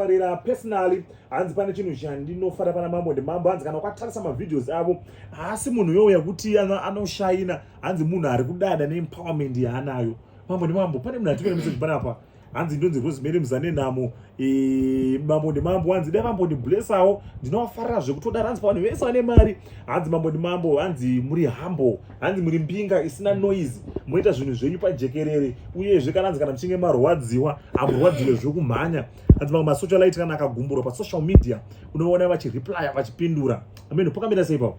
farira personally hanzi pane chinhu chandinofara pana mambo ndimambo hanzi kana ukatarisa mavideos avo haasi munhu youya kuti anoshaina hanzi munhu ari kudada neempowerment yaanayo mambo ndimambo pane munhu atimira message panapa hanzi ndonzi rosemary muzanenhamo e, mambo ndimambo hanzi dai mambo ndiblesawo ndinovafarira zvekutodara hanzi pavanhu vese vane mari hanzi mambo ndimambo hanzi muri humble hanzi muri mbinga isina noise moita zvinhu zvenyu pajekerere uyezve kana hanzi kana muchinge marwadziwa hamurwadziwe zvekumhanya hanzi mamwe masocialite kana akagumburwa pasocial media unovaona vachireplya vachipindura ameno pakamira sei papo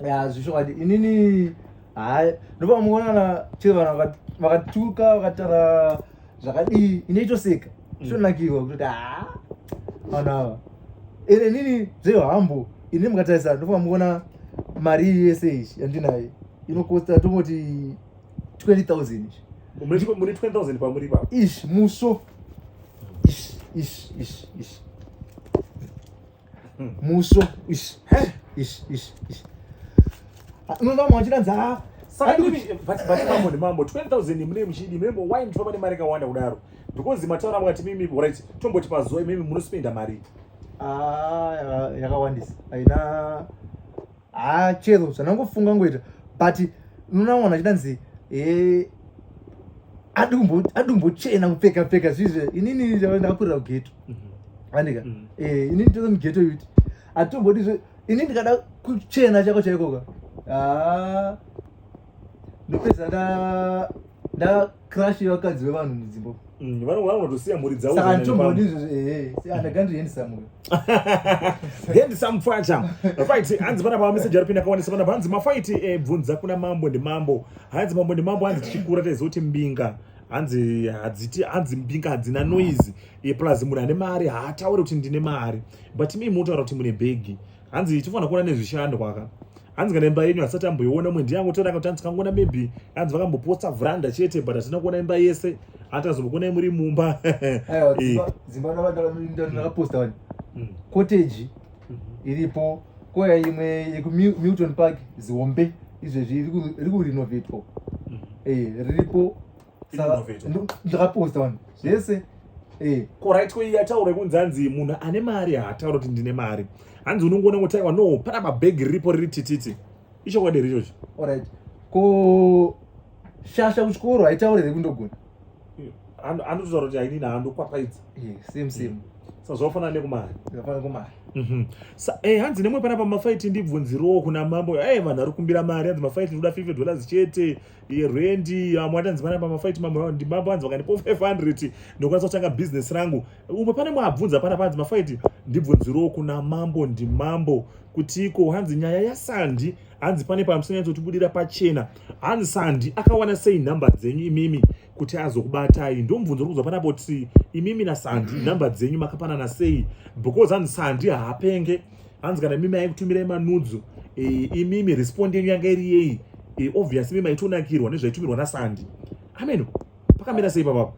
ya zvishokwadi inini hayi ndopamuonana chero vanhu vakatuka vakatara zvakadii inoitoseka zvonakirwa kuti haa vanhu ava ene nini zvehambo ini mukatarisa ndofunga mukuona mari iyi yese iyi yandinayo inokosta tongoti 20000 muri 20000 pamuri pa ish muso ish ish ish ish muso ish ish ish ish unoona mwa china dza saka ndimi but but mambo ndi mambo 12000 mune mchidi mune why mtwa pane mari kawanda kudaro because mataura mwati mimi right tomboti pazuva mimi munospenda mari ah yakawandisa aina haa chero zvanangofunga ngoita but unoona mwana achidanzi eh, adumbochena kupfeka pfeka zvizve inini ndakurira kugeto mhm. andika mhm. eh, inini tose mugeto yuti atombodizve ini ndikada kuchena chako chaikoka haa ah, ndopedza nda crush yevakadzi vevanhu mudzimba mm, vanogona kunotosiya mhuri dzavo saka nditombodi izvozvo ehe andagandi handsome handsome pfacha fight hanzi panapa mameseji ari pinda kawanisa panapa hanzi mafight ebvunza eh, kuna mambo ndimambo hanzi mambo ndimambo hanzi tichikura taizoti mbinga hanzi hadziti hanzi mbinga hadzina noise eh, plus munhu ane mari haataure kuti ndine mari but mi munotaura kuti mune bhegi hanzi tifanira kuona nezvishandwa ka hanzi kana imba yenyu hasati amboiona umwe ndiye angotora kuti hanzi kangoona maybe hanzi vakambopotsa vranda chete but hatina kuona imba yese hanti azombokona muri mumba dzimbaaaposta cottage iripo koya imwe yekumilton park zihombe izvezvi iri kurinovatwa riripo ndakaposta vanhu zvese eh. korit ko yataura kunzi hanzi munhu ane mari haataura kuti ndine mari hanzi unongoona ngotaiwa no pane mabhegi riripo riri tititi ichokwadi here ichocho orit ko shasha kuchikoro haitaure here kundogona anototaura kuti hainini handokwapaidza eh, same same mm sazvafanana nekumari zvafanana kumari mhm. eh, hanzi nemwe panapa mafaiti ndibvunzirowo kuna mambo e vanhu ari kumbira mari hanzi mafaiti ndoda 50 dollars chete rwendi amwe atanzi vana pamafaiti mambo ndimambo anzi vakandipo 500 ndokwanisa kutanga business rangu umwe pane mwabvunza pana panzi mafaiti ndibvunzirewo kuna mambo ndimambo kuti iko hanzi nyaya yasandi hanzi pane pamusanyatso tibudira pachena hanzi sandi akawana sei nhamba dzenyu imimi kuti azokubatai ndomubvunzo uri kuzwa panapa kuti imimi nasandi number dzenyu makapanana sei because hanzi sandi haapenge hanzi kana imimi aikutumirai manudzo e, eh, imimi respond yenyu yanga iri yei e, eh, obvious imimi aitonakirwa nezvaitumirwa nasandi amen pakamira sei papapo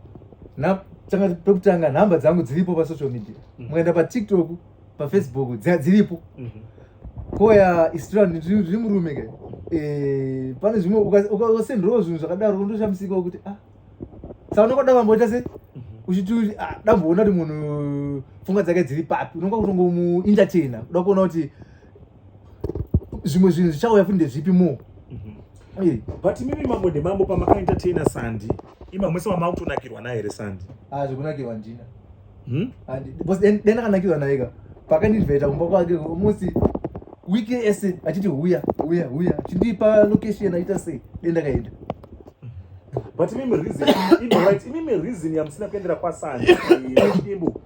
pekutanga nhamba dzangu dziripo pasocial media mm. mukaenda patiktok pafacebook dziripo mhm. koya istrand riri murume ke eh, pane zvimwe ukasendrawo zvinhu zvakadaro ndoshamsika wekuti a ah, sa unenge da vamboita se mhm. uchiti ah, damboona kuti munhu pfungwa dzake dziri papi unonga kutongomuintertaina kuda kuona kuti zvimwe zvinhu zvichauya futi ndezvipi more mhm. but mimi mambo ndemambo pamakaentertaina sandi imamwese wamakutonakirwa naye here sandi ah, zvekunakirwa ndina hmm? because then then akanakirwa naye ka pakandinvita kumba kwake musi week yese achiti huya huya huya chindipa location aita sei then ndakaenda but imimi reason imimi right imimi reason yamusina kuendera kwasani imbo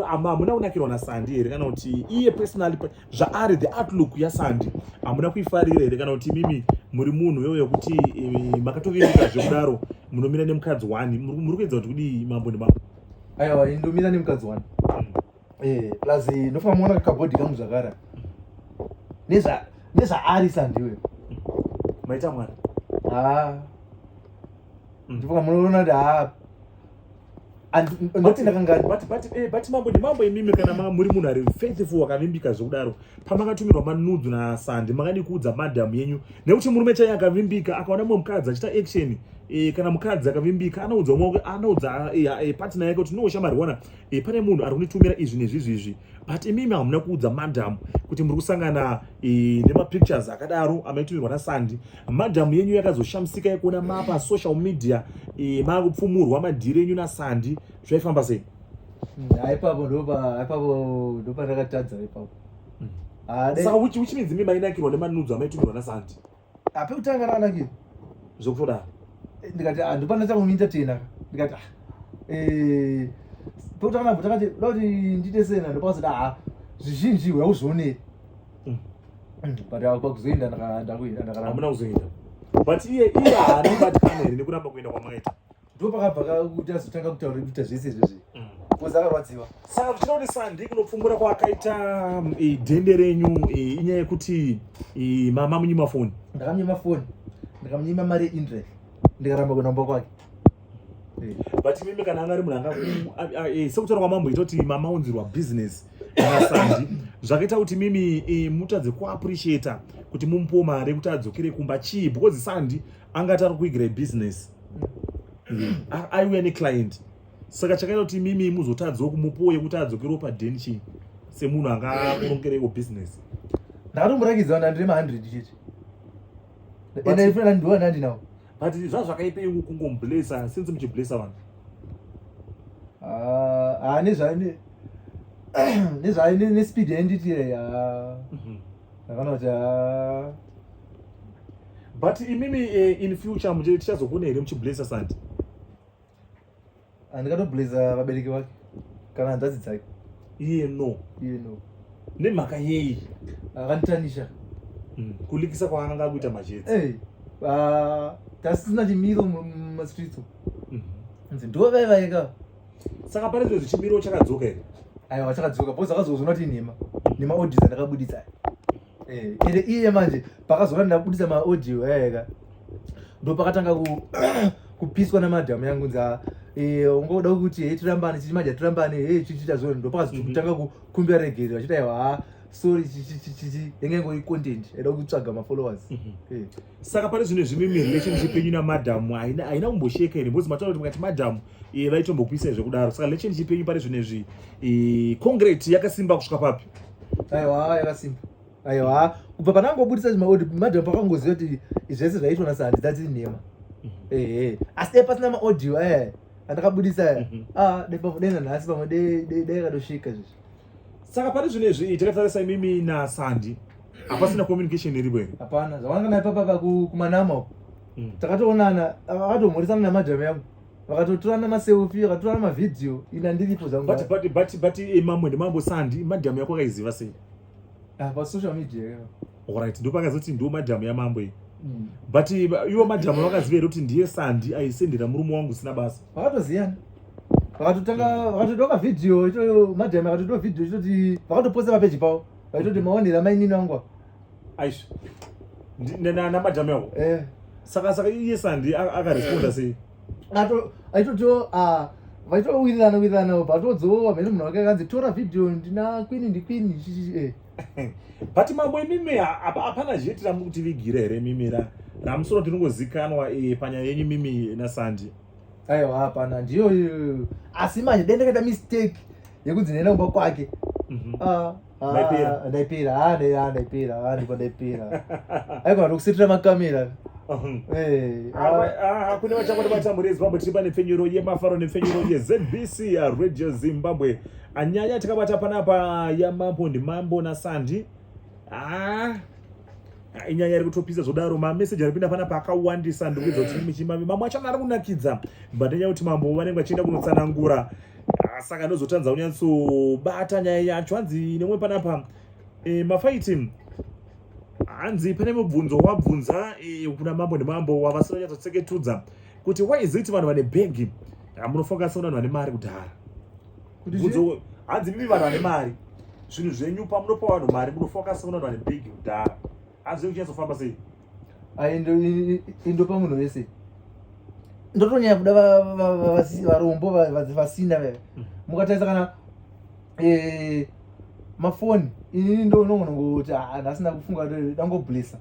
hamuna kunakirwa nasandi here kana kuti iye personally zvaari the outlook yasandi hamuna kuifarira here kana kuti imimi muri munhu wewe yekuti eh, makatoviika zvekudaro munomira nemukadzi one muri kuedza kuti kudii mambo nemambo aiwa indomira nemukadzi wani eh, plus ndofana muona kakabhodhi kangu zvakara nezvaari sandiwe maita mwana haa mm. ndipoka munoona kuti haa andoti ndakangabati eh, mambo ndimambo imimi kana muri munhu ari faithful akavimbika zvekudaro pamakatumira manudzu na Sandi makadi kuudza madam yenyu nekuti murume chaiye akavimbika akaona mumwe mukadzi achita action e, kana mukadzi akavimbika anoudza umwe anoudza e, e, partner yake kuti no shamari wana e, pane munhu ari kunditumira izvi nezvizvi izvi but imimi hamuna kuudza madam kuti muri kusangana e, nemapictures akadaro amaitumirwa na Sandi madam yenyu yakazoshamisika yekuona mapa social media e, makupfumurwa madhiri enyu na Sandi zvaifamba sei haipapo ndohaipapo ndopandakatadza ipapo hmm. ah, saka uchi uchi minzi mimba inakirwa nemanudzo amaitunirwa nasanti ape kutanga ranakira zvekutodaro eh, ndikati ah, ndopanatanga kumiita tena ndikati ah, eh, pekutanga nabvo takati da kuti ndiite sena ndopakazoti aa zvizhinji hweauzvionei hmm. hmm, but kwakuzoenda ndakuenda ndakarambona kuzoenda but iye iye haani batikana here nekuramba kuenda kwamwaita ndo pakabva kakuti azotanga kutaura kuita zvese izvezvi mm. kozi akarwadziwa saka kuchinakuti sandi kunopfumbura kwaakaita mm, dende renyu inyaya yekuti mama munyima foni ndakamunyima foni ndakamunyima mari yeindrek ndikaramba kuenda kumba kwake but mimi kana anga ari munhu anga eh, sekutaura kwamambo itoti mama unzirwa business asandi zvakaita kuti mimi eh, mutadze kuappreciata kuti mumupiwo mari yekuti adzokere kumba chii because sandi anga atari kuigire business aiuya neclient saka chakaita kuti imimi muzotadzawo kumupuwo yekuti adzokere padeni chii semunhu anga akurongerewo business ndakatomurakidza vanhu andiri mahundred chete ende ifuna nandi ndiwa nandi nawo but zva zvakaipa iku kungomublesa since muchiblesa vanhu ah, ah, nezvaine nezvaine nespeed yanditi yakanoti but imimi eh, in future muje tichazokune here muchiblazer sandi andikatoblazer vabereki vake kana hanzvadzi dzake iye no iye no nemhaka yei akanditanisha mm. kulikisa kwaananga akuita majetsi hey. Eh, uh, ah, tasina chimiro mumastreets mm -hmm. ndo vaivaika saka pane zve zvichimiro chakadzoka here aiwa chakadzoka bcause akazozona kuti nhema nema odisa ndakabuditsa eh ende iye manje pakazona ndabudisa ma audio eka ndo pakatanga ku kupiswa na madam yangu nza eh ungoda kuti hey tirambane chichi manje tirambane hey chichi chazona ndo pakazotanga mhm. kukumbira regerero achita yawa sorry chichichichichi yenge ngori content eda kutsvaga mafollowers mm -hmm. yeah. saka pane zvine zvimwe mirelationship yenyu namadam haina haina kumbosheka here because mataura kuti mukati madam e, eh, vaitombokuisai zvekudaro saka relationship yenyu pane zvine zvi e, eh, concrete yakasimba kusvika papi aiwa yakasimba aiwa kubva pandangobudisa zvimaodi madam pakangoziva kuti zvese zvaitwa na sandi dzadziri nhema ehe asi dai pasina maaudio aya andakabudisa aya ah dai pamwe dai nanhasi pamwe dai- dai dai akatosvika izvozvi saka pane zvino izvi takatarisa imimi nasandi hapasina communication iripo here hapana zvawanga naye papapa ku- kumanama uko takatoonana akatomhoresana namadam yangu vakatotorana maselfi vakatorana mavhidhiyo ina ndiripo zangubut eh, mamwe ndimambo sandi madhamu yako akaiziva sei ah, pasocial media orit ndopakazoti ndiwo madhamu yamambo iyi mm. but eh, ivo madhamu vakaziva here kuti ndiye sandi aisendera murume wangu usina basa vakatoziyana vakatotanga vakatoda kavhidhiyo ichoyo madhamu akatoda vhidhiyo ichitoti vakatoposa papeji pavo vaitoti maonera mainini angu aish nana madam yavo eh. saka saka iye sandi akaresponda sei aitotiwo ah, vaitowirirana wirirana upa atodzowa mhene munhu wake akanzi tora vhidhiyo ndina kwini ndikwini eh. but mambo imimi hapana zveti ramutivigira here mimi ramusoro tinongozikanwa eh, panyaya yenyu mimi nasandi aiwa hapana ndiyo asi manje dendekaita mistake yekudzinhena kumba kwake mhm. ah. Ah, ndaipira ah, ah, ndaipira ndipo ndaipira aikona tokusitira makamera hakuna vachakoti vatambura yezimbabwe tiri pane pfenyuro yemafaro nepfenyuro yezbc radio zimbabwe anyanya tikabata panapa yamambo ndimambo nasandi ah. inyaya iri kutopisa zvodaro mameseji aripinda pana paakawandisa ndikuedza kuti mm. michimami mamwe acho ari kunakidza but nyaya kuti mambo vanenge vachienda kunotsanangura ah, saka ndozotanza kunyatsobata nyaya yacho hanzi nemwe panapa e, mafaiti hanzi pane mubvunzo wabvunza e, kuna mambo nemambo wavasina nyatsotseketudza kuti why is it vanhu vane bhegi ah, munofunga sevanhu vane mari kudhara bvunzo hanzi mimi vanhu vane mari zvinhu zvenyu pamunopa vanhu mari munofaka seuna vanhu vane big kudhara hanzi kuchazofamba sei indopa munhu wese ndotonyanya kuda varombo vasina veve hmm. mukatarisa kana eh, mafoni inini ndonogona kuti ah, ndasina kufunga dangoblessa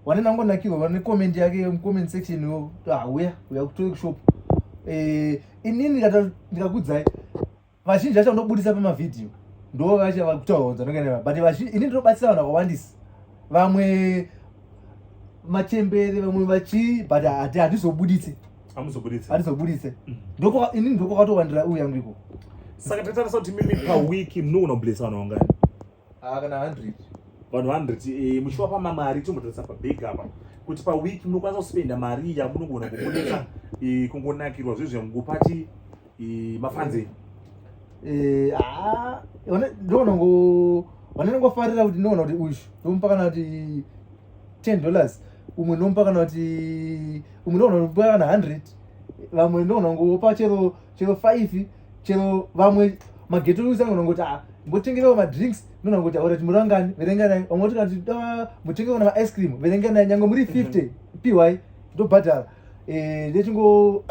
wane nangonakirwa vane comment yake comment section yo ah, uya uya kutoshop eh, inini ndikakudzai vazhinji vacho ndobudisa pamavhidhiyo ndo vacho vakutaura kunzi anokanaa but vazhinji inini ndinobatsira vanhu vakawandisa vamwe machembere vamwe vachii but hatizobuditse hatizobuditse mm. inini ndokwakatowandira uyu yangu iko saka tatarisa kuti mimi pawiki mnogona kubudisa vanhu vangani ah, kana 100 vanhu 100 eh, muchivapa mamari tombototsa pabhegi apa kuti paweek munokwanisa kuspenda mari yamunogona kumonesa eh, kungonakirwa zve zvemugopati eh, mafanzeni eh, ah, ndonongo vanenongofarira kuti ndinoona kuti uyu ndomupa kana kuti 10 dollars umwe ndomupa kana kuti umwe ndoona kuti kana 100 vamwe ndoona ngopa chero chero 5 chero vamwe mageto usa unongoti a ah, ngotengerewo madrinks nona ngoti aurati muri vangani verenganai vamwe voti kati ah, mutengewo na maice cream verenganai nyange muri 50 mhm. piwai ndobhadhara eh, ndechingo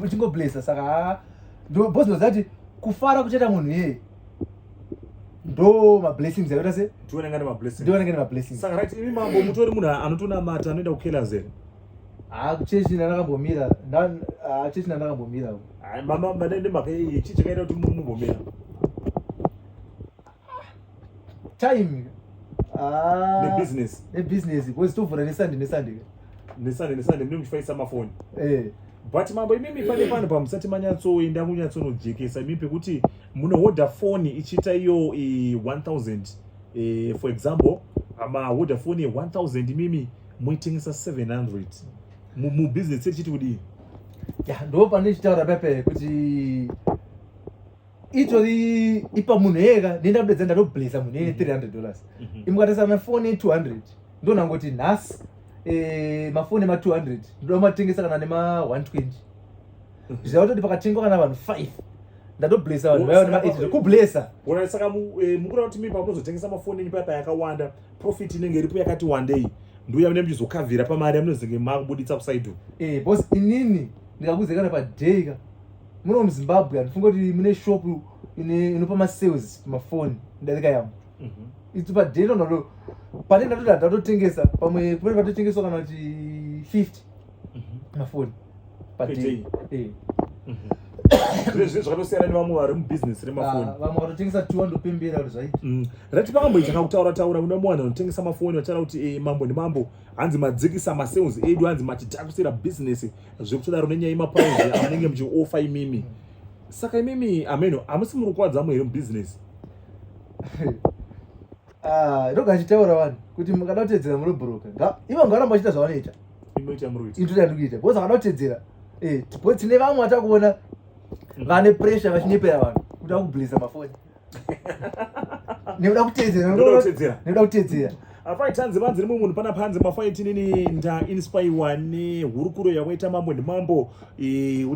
chingoblesa saka haa ah, ndobhozi ndozati kufara kuchaita munhu yeye ndo mablessings aita se ndiwanenge ne mablessings ndiwanenge ne mablessings saka right imi mambo mutori munhu anotonamata anoenda kukelazeni Ah, kuchechi ndakambomira. Ah, chechi ndakambomira. Ah, mama manende make ichi chakaita kuti mumbomira. Time. Ah. The business. The business. Because to for Sunday, Sunday. Sunday, Sunday, mimi kufaisa mafoni. Eh. But mambo imimi pale pano pamusati manyatsoenda kunyatsonojekesa imimi pekuti munohodha foni ichiita iyo 1000 eh, for example ama hodha foni ye 1000 imimi moitengesa 700 mubusiness mu chiti kudii ya ndo pane chitaura pepe kuti itori ipa munhu yeka nenda kudedza ndatoblesa munhu yene 300 mhm. dollars mhm. imukatesa mafoni 200 ndo nangoti nhasi eh, mafoni ema 200 ndoda matengesa kana nema 120 mhm. zvichava kutoti pakatengwa kana vanhu 5 ndatoblesa vanhu vaiva nema 8 kublesa saka eh, mukura kuti mi pamunozotengesa mafoni enyu paya payakawanda profit inenge iripo yakati wandei nduya mune mchizokavhira pamari yamunozenge makubuditsa kusaido e eh, bos inini ndikakuzekana paday ka muno muzimbabwe andifunga kuti mune shop inopa masales pamafoni ndarika yamo mhm. itu paday ndondo pane ndatoda ndatotengesa pamwe kumene vatotengeswa kana kuti 50 mafoni padei eh. mhm. zvezve zvakatosiyana nevamwe vari mubusiness remafoni ah, vamwe vatotengesa two andopembera kuti zvaiti mm. rati pakamboitanga kutaura taura kune mumwe vanhu vanotengesa mafoni vachitaura kuti eh, mambo nemambo hanzi madzikisa masales edu hanzi machitakusira business zvekutodaro nenyaya yemapaunzi amunenge muchiofa imimi saka imimi ameno hamusi muri kukwadza amwe here mubusiness Ah, ndoga achitaura vanhu kuti mukada kutedzera murobhuroka ivo nga varamba vachita zvavanoita indoitandikuita because akada kutedzera eh, because tine vamwe vata kuona mm. vane pressure vachinyepera vanhu kuti vakubliza mafoni nekuda kutedzeranoda kutedzera apaitanzi vanzi rimwe munhu pana panzi mafaiti nini ndainspaiwa nehurukuro yakaita mambo nemambo e,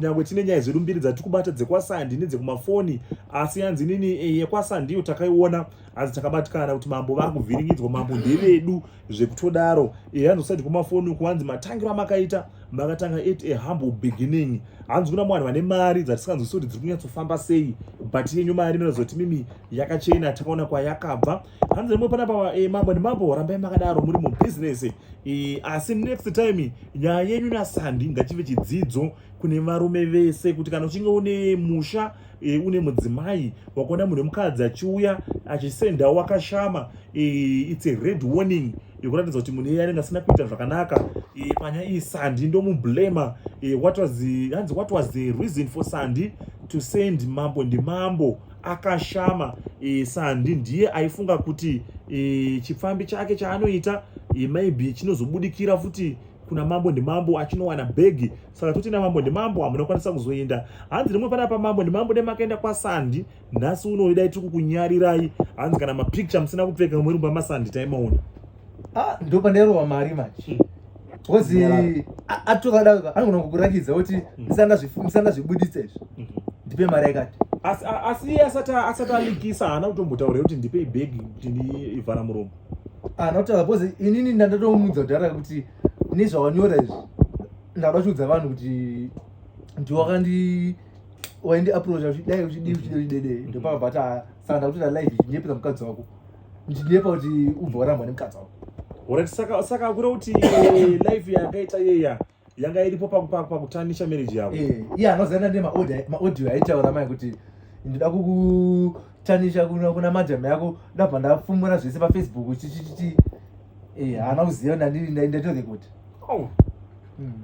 nyangwe tine nyaya zvedu mbiri dzatiri kubata dzekwasandi nedzekumafoni asi yanzi nini e, yekwasandiyo takaiona hanzi takabatikana kuti mambo vari kuvhiringidzwa mambo ndevedu zvekutodaro ehe hanzi kusati kumafoni uku hanzi matangiro amakaita makatanga at a humble beginning hanzi kuna mwanhu vane mari dzatisinganzwisi kuti dziri kunyatsofamba sei but yenyu mari inozoti mimi yakachena takaona kwayakabva hanzi rimwe panapa e, mambo nemambo rambai makadaro muri mubusiness e, asi next time nyaya yenyu nasandi ngachive chidzidzo kune varume vese kuti kana uchinge une musha e, une mudzimai wakaona munhu wemukadzi achiuya achisendawo wakashama e, its a red warning yekuratidza kuti munhu iye anenge asina kuita zvakanaka e, panya iyi sandi ndomublema e, what was hanzi what was the reason for sandi to send mambo ndimambo akashama e, sandi ndiye aifunga kuti e, chipfambi chake chaanoita e, maybe chinozobudikira futi kuna mambo ndimambo achinowana bhegi saka toti namambo ndimambo hamuna kukwanisa kuzoenda hanzi rimwe panapa mambo ndimambo nemakaenda kwasandi nhasi unoyo dai tiri kukunyarirai hanzi kana mapicture musina kupfeka mwe rumba masandi taimaona ah, ndo pandairova mari manje kozi hmm. atovada anogona kukurakidza kuti hmm. musanga zvibuditsa izvi hmm. ndipe mari yakati asi iye asati alikisa haana kutombotaura kuti ndipei bhegi kuti ndiivhara muromo haana ah, kutaura kozi inini ndandatomudza kudhara kuti nezvawanyora izvi ndada chiudza vanhu kuti ndiwakandi waindi aproacha uchidai uchidii uchidei uchidede mm-hmm. ndopava but ah, saka ndakutoita live ndinyepera mukadzi wako ndinyepa kuti ubva warambwa nemukadzi wako orit saka saka akura kuti live yakaita yeya yanga iripo pakutanisha marriage yavo iye eh, anoziana nemaaudio aitaura mai kuti ndida kuku Tanisha kuna kuna madam yako ndabva ndafumura zvese pa Facebook chichichiti eh haana kuziva ndandiri ndaenda to the court. Oh. Hmm.